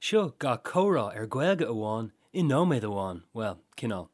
Seo gach comhrá ar Gaeilge amháin i nóiméad amháin, bhuel, cineál.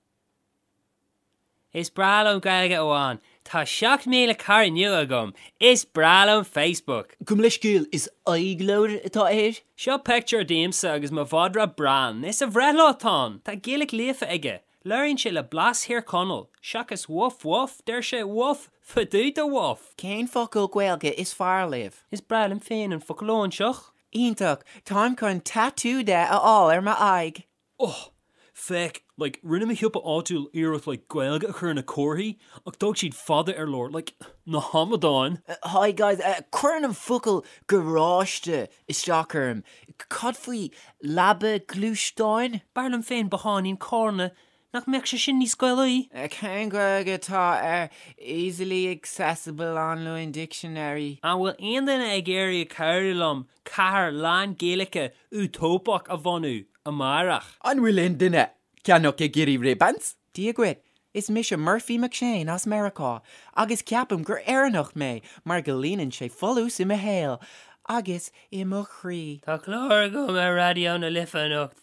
Is breá liom Gaeilge amháin! Tá 7,000 cara nua agam! Is breá liom Facebook! Gabh mo leithscéal, is Aghaidhleabhar atá air. Seo pictiúr díomsa agus mo mhadra Bran. Is a bhreithlá atá ann. Tá Gaeilge líofa aige. Labhraíonn sé le blas Thír Chonaill, seachas Woff woff, deir sé Woff! Fada ar Woff! Cén focal Gaeilge is fearr libh? Is breá liom féin an focal óinseach. Iontach! Táim chun tatú de a fháil ar m'aghaidh! Oh! Féach, like, rinne mo shiopa áitiúil iarracht, like, Gaeilge a chur ar na comharthaí, ach d'fhág siad fada ar lár, like, na hamadáin! Hi guys, cuireann an focal garáiste isteach orm. Cad faoi leaba gluaisteáin? B'fhearr liom féin botháinín cairr, nó, nach mbeadh sé sin níos Gaelaí? Cén Ghaeilge atá ar easily accessible online dictionary? An bhfuil aon duine ag iarraidh cabhrú liom cathair lán-Ghaeilge útóipeach a bhunú, amárach? An bhfuil aon duine ag ceannach nó ag iarraidh ribbons? Dia dhuit, is mise Murphy McShane as Meiriceá agus ceapaim gur Éireannach mé mar go líonann sé folús i mo shaol agus i mo chroí. Tá clár agam ar Raidió na Life anocht,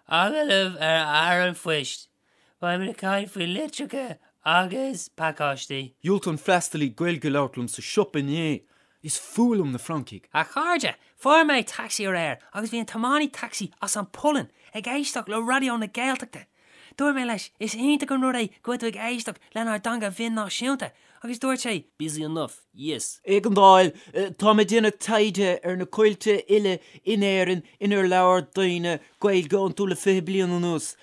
agallamh le Fear an Phoist. Beidh mé ag caint faoi litreacha agus pacáistí. Dhiúltaigh an freastalaí Gaeilge a labhairt liom sa siopa inné Is fuath liom na Francaigh. A chairde, fuair mé taxi aréir agus bhí an tiománaí taxi as an Pholainn ag éisteacht le Raidió na Gaeltachta. Dúirt mé leis, is iontach an rud é go bhfuil tú ag éisteacht lenár dteanga bhinn náisiúnta, agus dúirt sé, busy enough, yes. Éigeandáil, Táim ag déanamh taighde ar na coillte uile in Éirinn inar labhair daoine Gaeilge iontu le fiche bliain anuas.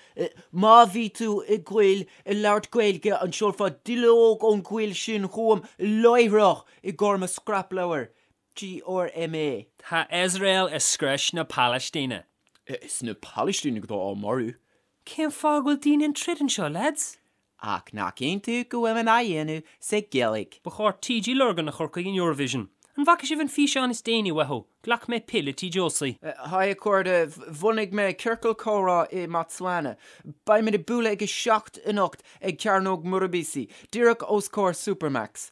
Má bhí tú i gcoill ag labhairt Gaeilge, an seolfá duilleog ón gcoill sin chugam láithreach? I gcomhar mo scrapleabhair GRMA. Tá Iosrael ag scrios na Palaistíne. Is iad na Palaistínigh atá á marú. Cén fáth go bhfuil daoine ag troid anseo, lads? Ach nach iontach go bhfuil muid á dhéanamh sa Ghaeilg. Ba chóir TG Lurgan a chur chuig an Eurovision. An bhfaca sibh an físeán is déanaí uathu, Glac Mé Pill, le TG Osi? Haigh a chairde, bhunaigh mé ciorcal comhrá i mBotswana. Beimid ag bualadh ag a seacht anocht ag Cearnóg Murubisi, díreach os comhair Supermacs.